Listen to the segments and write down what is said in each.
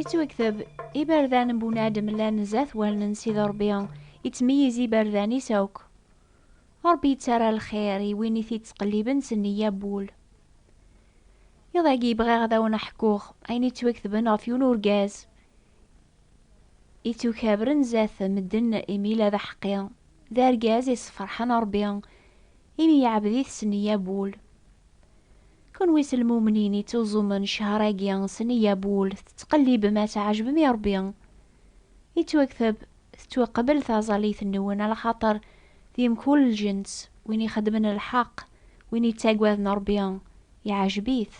Ittwagteb, iberdan n bunadem llan zdat wallen si d Rebbi, ittmeyyiz iberdan-is akk. Rebbi yettarra lxir i win i t-ittqelliben s nniya n wul. Iḍ-agi bɣiɣ ad awen-ḥkuɣ ayen ittwagtben ɣef yiwen urgaz I tt-ukabren zdat medden imi la d aḥeqqi, d argaz i sefreḥen Rebbi, imi yeɛbed-it s neyya n wul. Kunwi s lmumnin i ttuẓumen ccehr-agi s neyya n wul, tettqellibem ad tɛejbem i Rebbi. Yettwakteb, tettwaqbel taẓallit-nwen, alaxaṭer di mkul lǧens, win ixeddmen lḥeqq, win yettaggaden Rebbi, Yeɛjeb-it.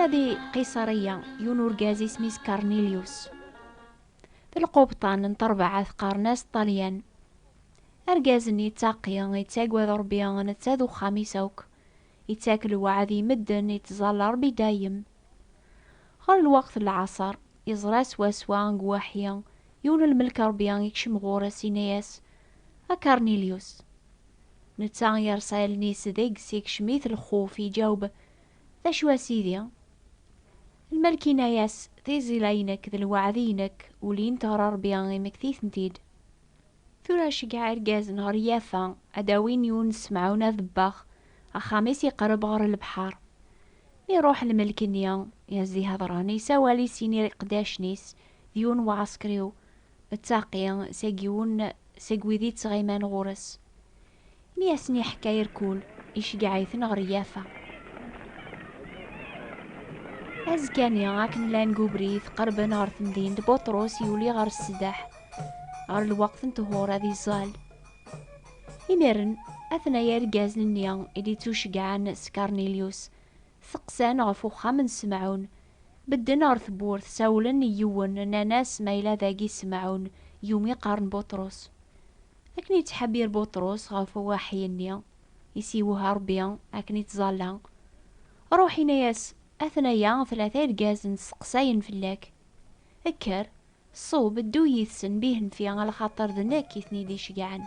Yella di Qiṣariya yiwen urgaz isem-is Karnilyus. D lqubṭan n terbaɛa teqqaren-as Ṭalyan. Argaz-nni yettaqi, yettagad Ṛebbi, netta d uxxam-is akk. Ittak lweɛd i medden, ittẓalla Ṛebbi dayem. Ɣer lweqt n lɛaṣer, iẓra swaswa deg Waḥi, yiwen n lmelk n Ṛebbi ikcem ɣur-s, inna-yas, A Karnilyus! Netta yerṣa allen-is deg-s, ikcem-it lxuf, iǧaweb, D acu a Sidi? Lmelk inna-yas, Tiẓilla-inek d lweɛd-inek ulint ɣer Ṛebbi, imekti-tent-id. Tura ceggeɛ irgazen ɣer Yafa ad d-awin Yunes Mɛun Aḍebbax, axxam-is iqerreb ɣer lebḥer. Mi iruḥ lmelk-nni, yezzi Hadran, yessawal i sin iqeddacen-is, d yiwen uɛeskriw, Mettaqi, seg yiwen seg wid ittɣiman ɣur-s. Mi asen-iḥka irkul, iceggeɛ-iten ɣer Yafa. Azekka-nni, akken llan deg ubrid, qerben ɣer temdint, Buṭrus yuli ɣer ssdeḥ, ɣer lweqt n ṭhur, ad iẓẓal. Imiren, atnaya irgazen-nni i d-ittuceggɛen s Karnilyus, teqqsan ɣef uxxam n Semɛun. Bedden ɣer tewwurt, sawlen i yiwen, nnan-as ma yella dagi Semɛun, yumi qqaren Buṭrus. Akken yettḥebir Buṭrus ɣef uwaḥi-nni i s-yewha Rebbi, akken ittẓalla, Ṛuḥ inna-yas, Atnaya tlata irgazen steqsayen fell-ak. Kker, ṣub, ddu yid-sen bihenfi, lxaṭer d nekk i ten-id-iceggɛen.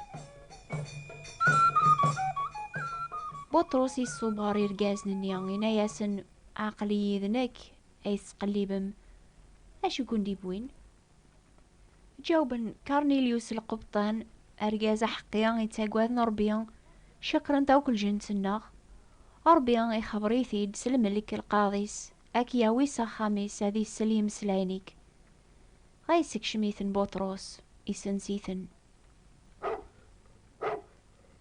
Buṭrus iṣub ɣer irgazen-nni, inna-yasen, Aql-iyi d nekk ay tettqellibem. Acu i ken-d-iwwin? Ǧawben Karnilyus Lqebṭan, argaz aḥeqqi yettaggaden Ṛebbi, cekṛent akk lǧent-nneɣ. Ṛebbi ixebbeṛ-it-id s lmelk lqaḍ-is, a k-yawi s axxam-is ad isel imeslayen-ik. Dɣa yessekcem-iten Buṭrus, isens-iten.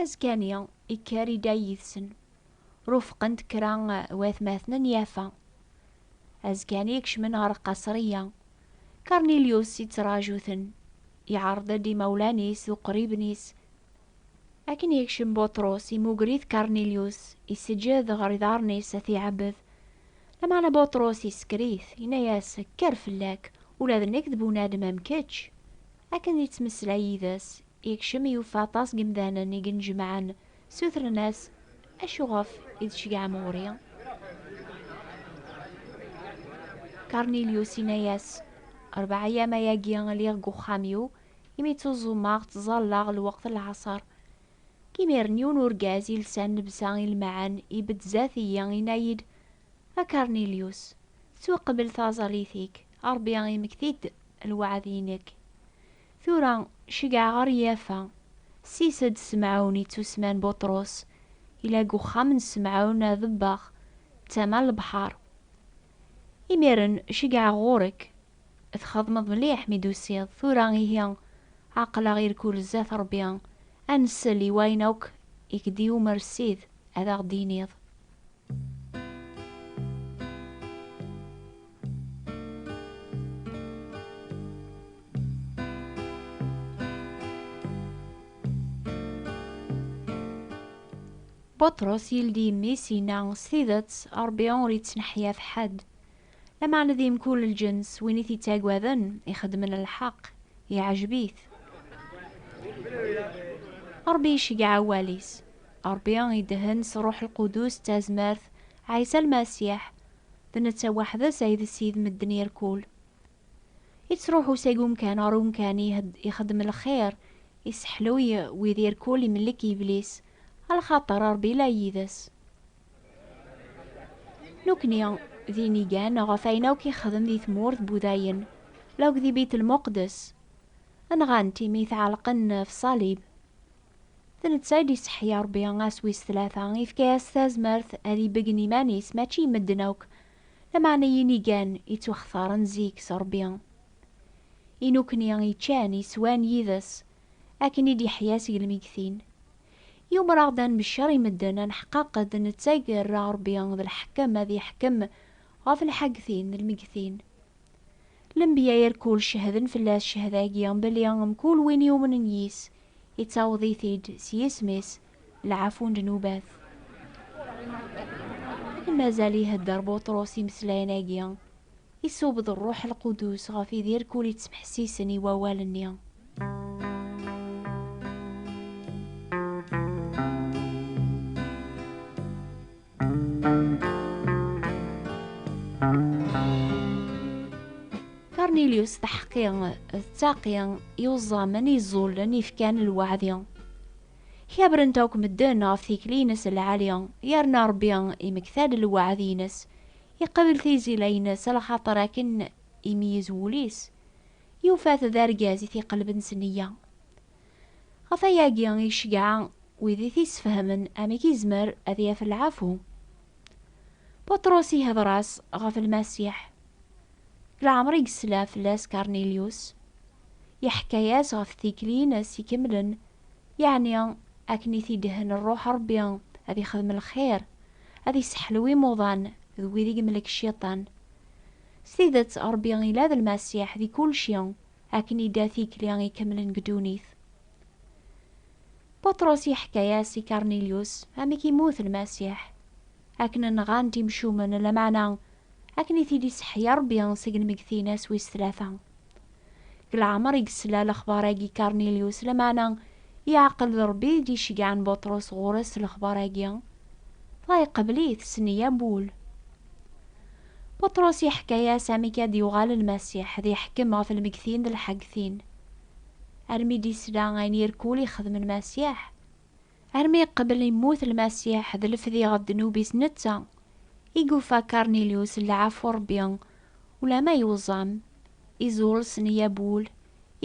Azekka-nni, ikker Iday yid-sen. Rufqen-t kra watmaten n Yafa. Azekka-nni kecmen ɣer Qasriya. Karnilyus ittraǧu-ten. Iɛreḍ-d imawlan-is d uqriben-is. Akken yekcem Buṭrus, imugger-it Karnilyus, iseǧǧed ɣer iḍarren-is ad t-iɛebbed. Lameɛna Buṭrus isekker-it, yenna-as, Kker fell-ak, ula d nekk d bunadem am kečč. Akken d-ittmeslay yid-s, Yekcem yufa aṭas n yemdanen i yennejmaɛen, ssutren-as, Acuɣef i d-tceggɛem ɣur-i? Karnilyus inna-yas, Rebɛa ayyam ayagi lliɣ deg uxxam-iw, imi ttuẓumeɣ, ttẓallaɣ lweqt n lɛaṣer. Deg yimiren yiwen urgaz yelsan llebsa ilmaɛen ibedd zdat-iyi, inna-yi-d, A Karnilyus, tettwaqbel traẓalit-ik, Rebbi imekti-d lweɛd-inek. Tura cegɛeɣ ɣer Yafa. Ssis-d Semɛun ittusemman Buṭrus, yella deg uxxam n Semɛun Aḍebbax, d tama n lebḥer. Imiren cegɛeɣ ɣur-k. Txedmeḍ mliḥ mi d-tusiḍ. Tura ihi, aql-aɣ irkul zdat Ṛebbi, ad nsel i wayen akk i k-d-yumer Ssid ad aɣ-d-tiniḍ. Buṭrus yeldi imi-s, yenna, S tidet, Ṛebbi ur ittneḥyaf ḥedd. Lameɛna di mkul lǧens, win i t-ittaggaden, ixeddmen lḥeqq, iɛjeb-it. Ṛebbi iceggeɛ awal-is. Ṛebbi idehhen s Ṛṛuḥ Lqudus d tazmert, Ɛisa Lmasiḥ, d netta weḥd-s ay d Ssid medden irkul. Ittṛuḥu seg umkan ɣer umkan, ixeddem lxir, isseḥluy wid irkul, imellek iblis, a lxaṭer Ṛebbi la yid-s. Nukni, d inigan ɣef ayen akk ixdem di tmurt n Wudayen, la akk di Bit Lmuqdes. Nɣan-t imi t-ɛelqen f ṣalib. D netta i d-iseḥya Rebbi ass wis tlata, ifka-yas tazmert ad ibeggen iman-is, mačči i medden akk, lameɛna i yinigan ittwaxtaren zik s Rebbi. I nukni, iččan, iswan yid-s, akken i d-iḥya seg lmegtin. Yumer-aɣ-d ad nmeccer i medden, ad neḥqaqed nettag rra Rebbi d lḥekem ad yeḥkem ɣef lḥagtin d lmegtin. Lenbiya irkul cehden fell-as cehda-agi belli mkul win yumnen yis, ittaweḍ-it-id s yisem-is lɛafu n ddnubat. Akken mazal ihedder Buṭrus imeslayen-agi, Iṣubb-d Ṛṛuḥ Lqudus ɣef Idir kul ittmeḥsisen i wawal-nni. Karnilyus taḥeqqi d taqi yuẓẓamen iẓẓullen ifkan lwaɛdi. Kabren-t akk medden ɣef tikli-ines lɛali, yerna Ṛebbi imekta-d lwaɛd-ines Yeqbel tizila-ines lxaṭer akken imeyyez wul-is, yufa-t d argaz i t-iqelben s nneyya. Ɣef wayagi i iceggeɛ wid i t-isfehmen amek izmer ad yaf lɛafu. Buṭrus ihder-as ɣef Lmasiḥ. Leɛmer i yesla fell-as Karnilyus, iḥekka-yas ɣef tikli-ines ikemlen Yeɛni, akken i t-idhen Rruḥ Ṛebbi, ad ixdem lxir, ad iseḥlew imuḍan d wid i yemlek Cciṭan. S tidet, Ṛebbi ila d Lmasiḥ di kulci, akken idda tikli ikemlen deg ddunit. Buṭrus iḥka-yas i Karnilyus amek immut Lmasiḥ. Akken nɣan-t imcumen, lameɛna akken i t-id-iseḥya Rebbi seg lmeggtin ass wis tlata. Deg leɛmer i yesla lexbar-agi Karnilyus, lameɛna yeɛqel d Rebbi i d-icegɛen Buṭrus ɣur-s s lexbar-agi, dɣa iqbel-it s neyya n wul. Buṭrus iḥka-yas amek ad d-yuɣal Lmasiḥ, ad iḥkem ɣef lmeggtin d lḥaggtin. Armi d-isla ayen irkul ixdem Lmasiḥ, Armi yeqbel yemmut Lmasiḥ d lefdi ɣef ddnub-is netta, i yufa Karnilyus lɛafu n Rebbi, ulamma yuẓam, izul s neyya n wul,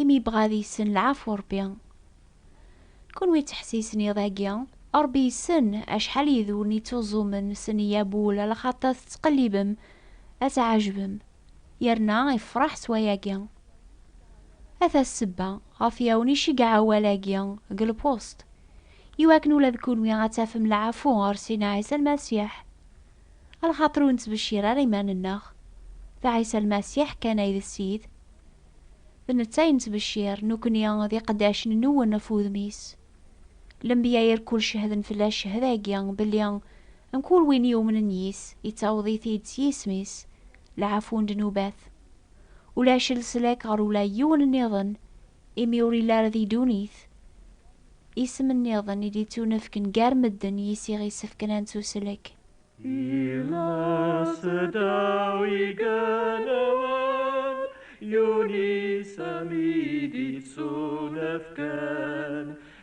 imi yebɣa ad yessen lɛafu n Rebbi. Kunwi ttḥessisen iḍ-agi, Rebbi yessen acḥal yid-wen ittuẓumen s neyya n wul, lxaṭer tettqellibem ad tɛejbem. yerna ifraḥ s wayagi. Ata ssebba ɣef yawen iceggeɛ awal-agi deg Le Poste, iwakken ula d kunwi ad tafem lɛafu ɣer Sina Ɛisa Lmasiḥ. A lxaṭer ur nettbeccir ara iman-nneɣ, d Ɛisa Lmasiḥ kan ay d Ssid. D netta ay nettbeccir, nekkni d iqeddacen n Nuwen ɣef wudem-is. Lenbya irkul cehden fell-as cehd-agi belli Mkul win yumnen yis, yettaweḍ-it-id s yisem-is lɛafu n ddnubat. Ulac leslak ɣer ula n yiwen nniḍen, imi ur yelli ara di ddunit. Isem nniḍen i d-yettunefken gar medden yis i ɣ-isefken ad nettuslek. Yella seddaw igenwan, yiwen isem i d-yettunefken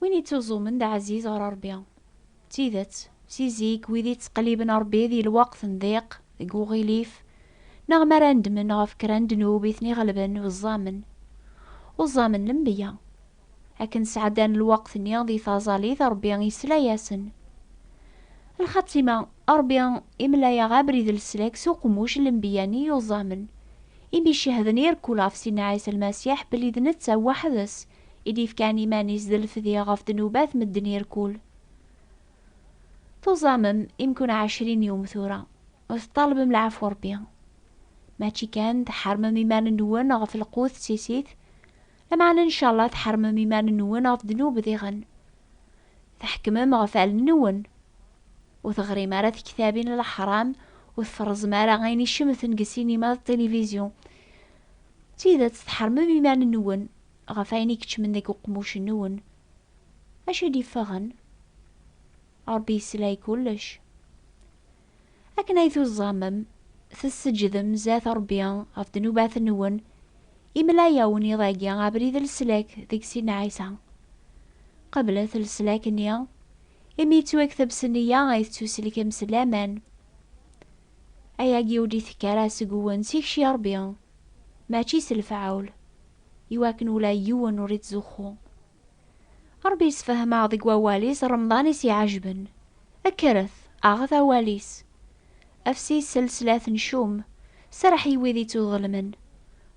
Win ittuẓumen d ɛziz ɣer Ṛebbi. D tidet, si zik, wid ittqelliben Ṛebbi di lweqt n diq, deg uɣilif, neɣ mi ara nedmen ɣef kra n ddnub i ten-iɣelben, uẓamen. Uẓamen lembiya. Akken sɛeddan lweqt-nni di taẓalit, Ṛebbi isla-yasen. Lxatima, Ṛebbi imla-yaɣ abrid n leslak s uqemmuc n lembiya-nni yuẓamen, imi cehden i rkul ɣef Sidna Ɛisa Lmasiḥ belli d netta weḥd-s i d-ifkan iman-is d lefdi ɣef ddnubat medden irkul. Tuẓamem imkun ɛecrin yum tura, ur teṭṭalbem lɛafwa Rebbi. Mačči kan tḥermem iman-nwen ɣef lqut d tisit, lameɛna ncallah tḥermem iman-nwen ɣef ddnub diɣen. Tḥekmem ɣef allen-nwen. Ur teɣrim ara tektabin n leḥram, ur tferrẓem ara ayen icemten deg sinima d tilivizyu. D tidet tḥermem iman-nwen, ɣef ayen i keččmen deg uqmuc-nwen, acu i d-iffɣen? Ṛebbi yesla i kullec. Akken ay tuẓẓamem, tesseǧdem zdat Ṛebbi ɣef ddnubat-nwen, imla-awen iḍ-agi abrid n leslak deg sin Ɛisa. Qeblet leslak-nni, imi yettwakteb s nneyya ay tettuselkem s laman. Ayagi ur d-itekki ara seg-wen, s ikci Ṛebbi, mačči s lefɛul. i wakken ula yiwen ur ittzuxxu. Ṛebbi yessefhem-aɣ deg wawal-is Remḍan i s-iɛejben, Kkret, aɣet awal-is! Afsi s lslat n Cum, serreḥ i wid ittuḍelmen,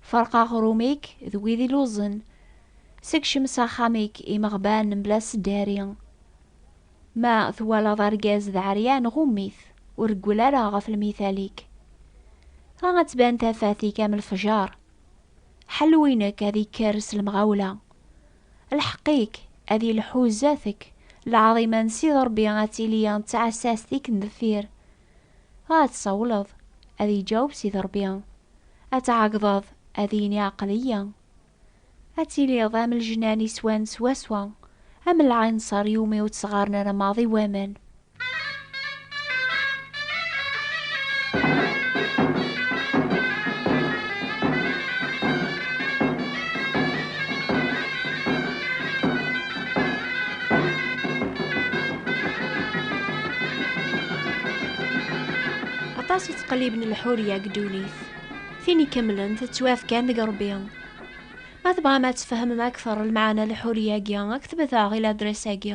Ferq aɣrum-ik d wid illuẓen, Sekcem s axxam-ik imeɣban mebla sdari. Ma twalaḍ argaz d ɛeryan, ɣum-it, ur reggel ara ɣef lmithal-ik. Dɣa ad tban tafat-ik am lefjer. Ḥal winek ad ikker s lemɣawla. Lḥeq-ik ad ilḥu zdat-k, lɛaḍima n Sidi Ṛebbi ad tili d tɛessast i kem-deffir. Dɣa ad tsawleḍ, ad iǧaweb Sidi Ṛebbi, ad tɛeggḍeḍ, ad yini aql-iyi. Ad tiliḍ am lejnan iswan swaswa, am lɛinṣer iwumi ur tt-ɣɣaren ara maḍi waman. aṭas i ttqelliben lḥuriya deg ddunit tin ikemmlen tettwafkan deg rebbi ma tebɣam ad tfehmem akteṛ lmeɛna lḥuriya-agi aktbet-aɣ i ladres-agi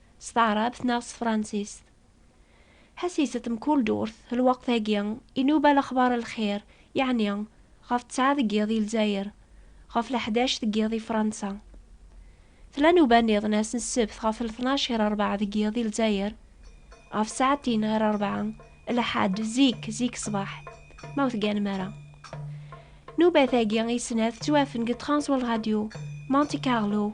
s taɛrabt neɣ s tefransist. Ḥassiset mkul durt, lweqt-agi, inuba lexbar n lxir, yeɛni, ɣef ttɛa deg yiḍ i Lezzayer, ɣef leḥdac deg yiḍ i Fransa. Tella nuba nniḍen ass n ssebt ɣef lṭnac ɣir rebɛa deg yiḍ i Lezzayer, ɣef ssaɛtin ɣir rebɛa, lḥadd, zik, zik ṣṣbeḥ, ma ur tegganem ara. Nubat-agi i snat tettwafen deg Transworld Radio, Monte Carlo,